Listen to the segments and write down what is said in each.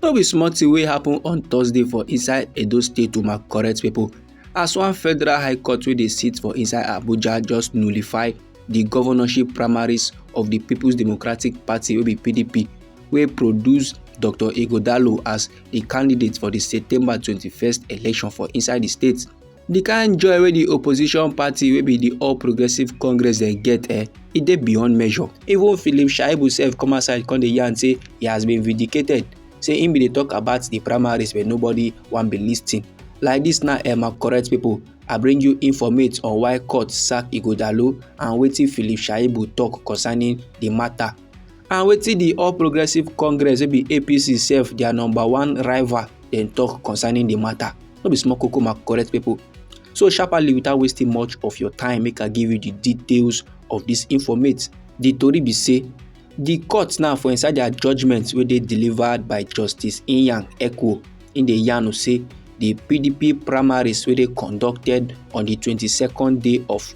No be small thing wey happen on Thursday for inside Edo State to my correct people as one federal high court wey dey sit for inside Abuja just nullify the governorship primaries of the People's Democratic Party wey be PDP wey produce Dr. Igodalo as a candidate for the September 21st election for inside the state. the kind joy wey the opposition party wey be the all progressives congress dey get eh e dey beyond measure even philip shaibu sef come outside come dey yarn say he has been vindicated say him bin dey talk about the primaries but nobody wan be lis ten like this now eh my correct people i bring you informate on why court sack ighodalo and wetin philip shaibu talk concerning the matter and wetin di all progressives congress wey be apc sef dia number one rival dem tok concerning di matter no be small koko ma correct pipo so sharparly without wasting much of your time make i give you di details of dis informate di tori be say di court now for inside dia judgement wey dey delivered by justice inyang ekwo in dey yarn say di pdp primaries wey dey conducted on di twenty second day of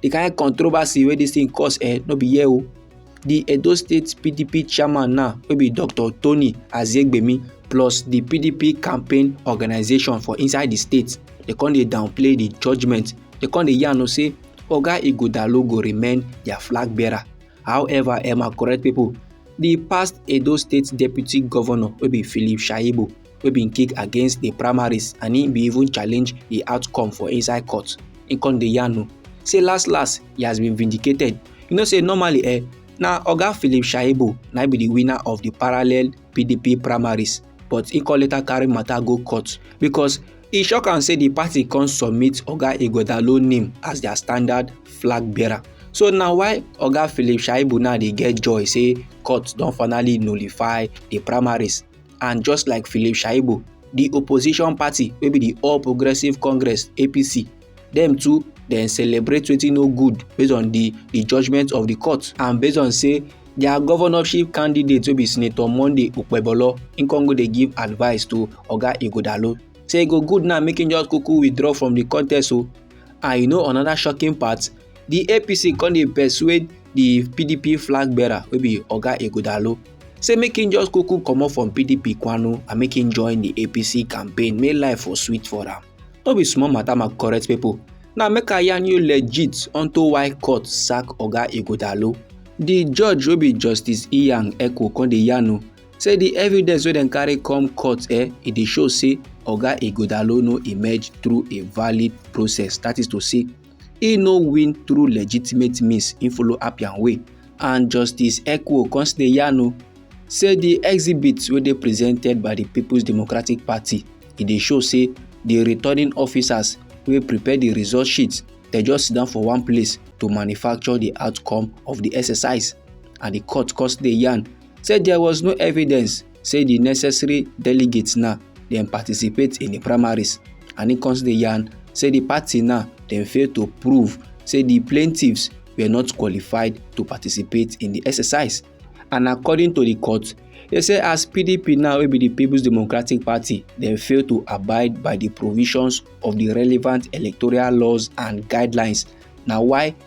the kind of controversy wey this thing cause eh no be here o oh. the edo state pdp chairman now wey be dr tony azegbemi plus the pdp campaign organization for inside the state dey come dey downplay the judgement dey come dey yarn o say oga ighodalo go remain their flag bearer however emma correct people the past edo state deputy governor wey be philip shaibu wey bin kick against di primaries and im bin even challenge di outcome for inside court im come dey yarn o say last last he has been vindicated you know say normally eh na oga philip shaibu na be di winner of di parallel pdp primaries but he come later carry matter go court because e shock am say di party come submit oga ighodalo name as dia standard flag bearer so na why oga philip shaibu now dey get joy say court don finally nullify di primaries and just like philip shaibu di opposition party wey be di all progressives congress apc dem too dem celebrate wetin no good based on di di judgement of di court and based on say dia governorship candidate wey be senator monday okpebholo im con go dey give advice to oga ighodalo say e go good now make im just kuku withdraw from di contest o oh. and you know another shocking part di apc come dey persuade di pdp flag bearer wey be oga ighodalo say make him just kuku comot from pdp kwanu and make him join di apc campaign make life for sweet for am no be small matter my correct pipo now make i yarn you legit unto why court sack oga ighodalo di judge wey be justice iyan eko come dey yarn o say di evidence wey dem carry come court eh e dey show say oga ighodalo no emerge through a valid process that is to say e no win through legitimate means e follow appian way and justice ekwo come still dey yarn o say di exhibit wey dey presented by di peoples democratic party e dey show say di returning officers wey prepare di result sheet dem just sit down for one place to manufacture di outcome of di exercise and di court come still dey yarn say there was no evidence say di necessary delegates now dem participate in di primaries and im come dey yarn say di party now dem fail to prove say di plaintiffs were not qualified to participate in di exercise and according to di court e say as pdp now wey be di peoples democratic party dem fail to abide by di provisions of di relevant electoral laws and guidelines na why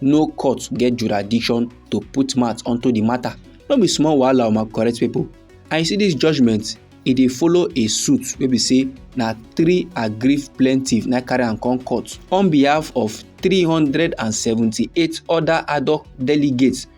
no court get jurisdiction to put mouth onto di matter no be small wahala o my correct pipo and you see dis judgement e dey follow a suit wey be say na three aggrieved plaintiffs na carry am come court on behalf of 378 oda hoc delegates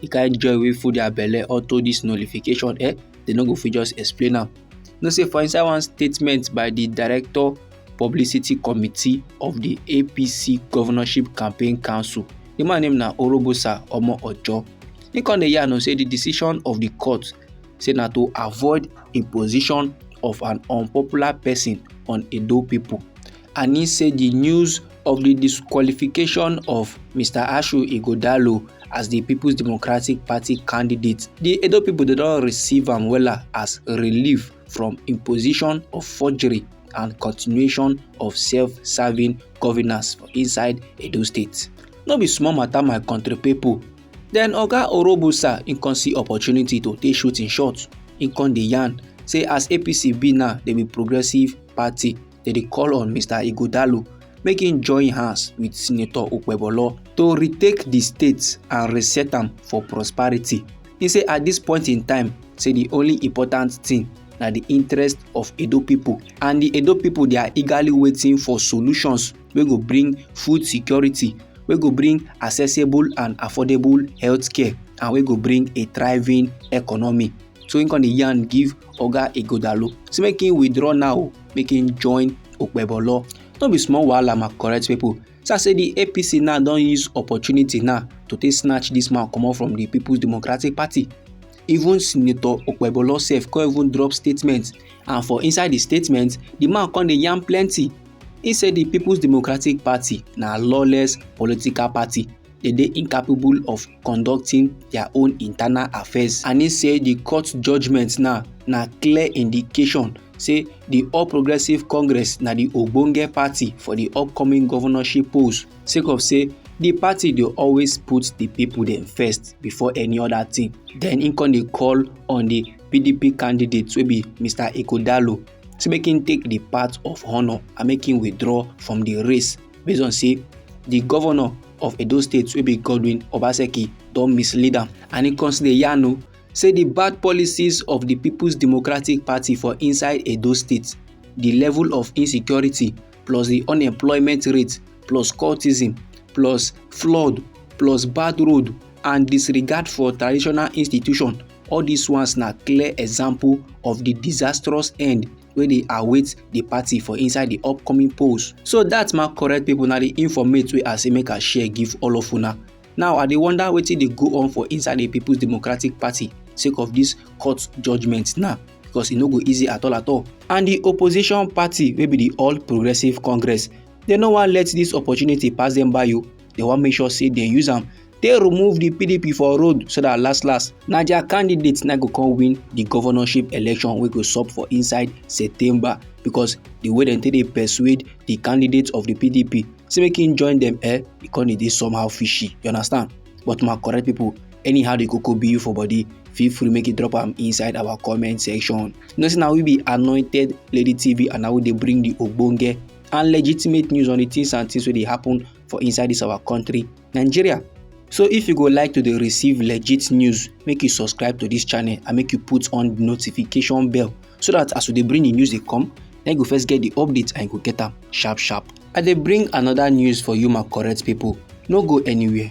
the kind joy wey full their belle unto this nullification eh they no go fit just explain am you know say for inside one statement by the director publicity committee of the apc governorship campaign council the man name na orobosa omo ojo he come dey yarn say the decision of the court say na to avoid imposition of an unpopular person on edo people and he say di news of di disqualification of mr ashu ighodalo as di peoples democratic party candidate di edo pipo don receive am wella as relief from imposition of forgery and continuation of self-serving governance for inside edo state no be small matter my country people. Then oga orobusa im come see opportunity to take shoot im shot im come dey yarn say as apc be now dem be progressive party dem dey call on mr ighodalo make im join hands wit senator okpebholo to retake di state and reset am for prosperity im say at dis point in time say di only important thing na di interest of edo pipo and di edo pipo dey are eagerly waiting for solutions wey go bring food security wey go bring accessible and affordable healthcare and wey go bring a thriving economy so im come dey yarn give oga ighodalo say make im withdraw now make im join okpebolo no be small wahala my correct pipo so i say di apc now don use opportunity now to take snatch dis man comot from di peoples democratic party even senator okpebolo sef come even drop statement and for inside di statement di man come dey yarn plenty He said the People's Democratic Party na lawless political party. They dey incapable of conducting dia own internal affairs and e say di court judgement now na clear indication say di all progressives congress na di ogbonge party for di upcoming governorship polls sake of say di party dey always put di pipo dem first before any oda tin den im con dey call on di pdp candidate wey be mr ighodalo say make im take di path of honour and make im withdraw from di race based on say di governor of edo state wey be godwin obaseki don mislead am and e consider yarn o say di bad policies of di peoples democratic party for inside edo state di level of insecurity plus di unemployment rate plus cultism plus flood plus bad road and disregard for traditional institution all dis ones na clear example of di disastrous end wey dey await di party for inside di upcoming polls so dat ma correct pipo na di informate wey i say make i share give all of una now i dey wonder wetin dey go on for inside di peoples democratic party sake of dis court judgement now because e no go easy at all at all and di opposition party wey be di all progressives congress dem no wan let dis opportunity pass dem by o they wan make sure say they use am take remove the pdp for road so that last last na their candidate na go come win the governorship election wey go sup for inside september because the way dem take dey persuade the candidate of the pdp say make him join them eh e come dey dey somehow fishy you understand but my correct people anyhow the koko be you for body feel free make you drop am inside our comment section you know say na we be anointed lady tv and na we dey bring the ogbonge and legitimate news on the things and things wey dey happen for inside this our country nigeria so if you go like to dey receive legit news make you subscribe to this channel and make you put on the notification bell so that as we dey bring the news dey come na you go first get the update and you go get am sharp sharp i dey bring another news for you my correct people no go anywhere